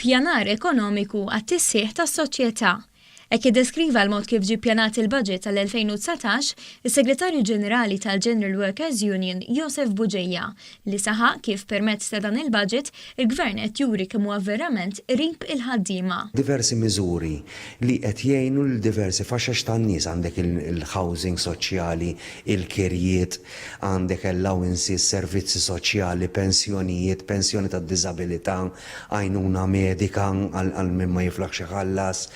Pjanar ekonomiku għat-tisħiħ tas-soċjetà Ek jiddeskriva l-mod kif ġi pjanat il-budget tal-2019, is-Segretarju Ġenerali tal-General Workers Union, Josef Buġeja, li saħaq kif permezz ta' dan il-budget Il-Gvern qed juri kemm huwa verament qrib il-ħaddiema. Diversi miżuri li qed jgħinu lil diversi faxex tan-nies, għandek il-housing soċjali, il-kirjiet, għandek allowances, servizzi soċjali, pensjonijiet, pensjoni tad-diżabilità, għajnuna medika għal min ma jiflaħx iħallas.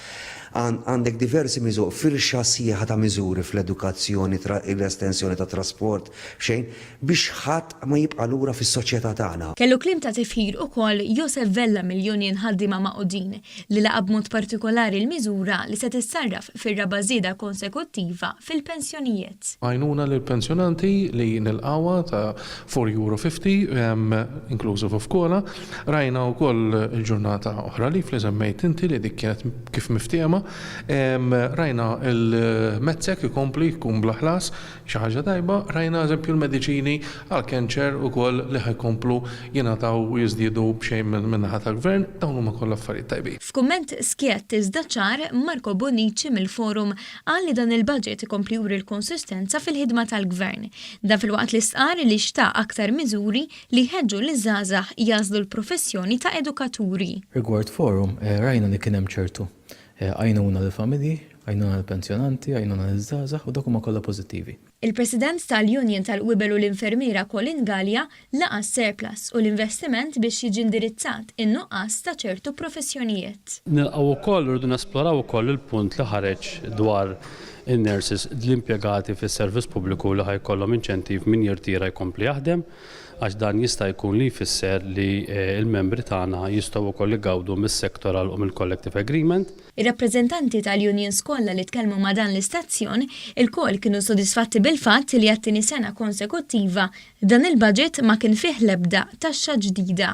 Għandek diversi miżuri, firxa sħiħa ta' miżuri fl-edukazzjoni, l-estensjoni tat-trasport, f'xejn. biex ħadd ma jibqa' lura fis-soċjetà tagħna. Kellu kliem ta' tifħir ukoll Josef Vella mill-Union Ħaddiema Magħqudin, li laqa' b'mod partikolari l-miżura li se tissarraf fir-raba' żieda konsekuttiva fil-pensjonijiet. Għajnuna lill-pensjonanti li nilqgħuha ta' €4 fifty, inclusive of cola. Rajna wkoll il-ġurnata oħra leave li semmejt inti li dik kienet kif miftiehma. Rajna l-METSEC ikompli jkun bla ħlas, Xi ħaġa tajba, rajna eżempju l-mediċini għall-cancer ukoll li ħa jkomplu jingħataw u jiżdiedu b'xejn min-naħa tal-Gvern, dawn huma kollha affarijiet tajbin. F'kumment skjett iżda ċar, Marco Bonnici mill-Forum qal li dan il-budget ikompli juri l-konsistenza fil-ħidma tal-Gvern. Dan filwaqt li stqarr li xtaq aktar miżuri li jħeġġu liż-żgħażagħ jagħżlu l-professjoni ta' edukaturi. Rigward Forum, rajna li kien hemm ċertu għajnuna lill-familji Għajnuna lill-pensjonanti, għajnuna liż-żgħażagħ u dawk huma kollha pożittivi. Il-President tal-Union tal-Qwibel u l-Infermiera Colin Galea laqa' s-surplus u l-investiment biex jiġi indirizzat in-nuqqas ta' ċertu professjonijiet. Nilqgħu wkoll u rridu nesploraw ukoll il-punt li ħareġ dwar in-nurses, l-impjegati fis-servizz pubbliku li ħa jkollhom inċentiv min jirtira jkompli jaħdem għax dan jista' jkun li jfisser li l-membri tagħna jistgħu wkoll igawdu mis-sectoral u mill-collective agreement. Ir-rappreżentanti tal-unions kollha li tkellmu ma' dan l-istazzjon ilkoll kienu sodisfatti bil-fatt li għat-tieni sena konsekuttiva dan il-budget ma kien fih l-ebda taxxa ġdida.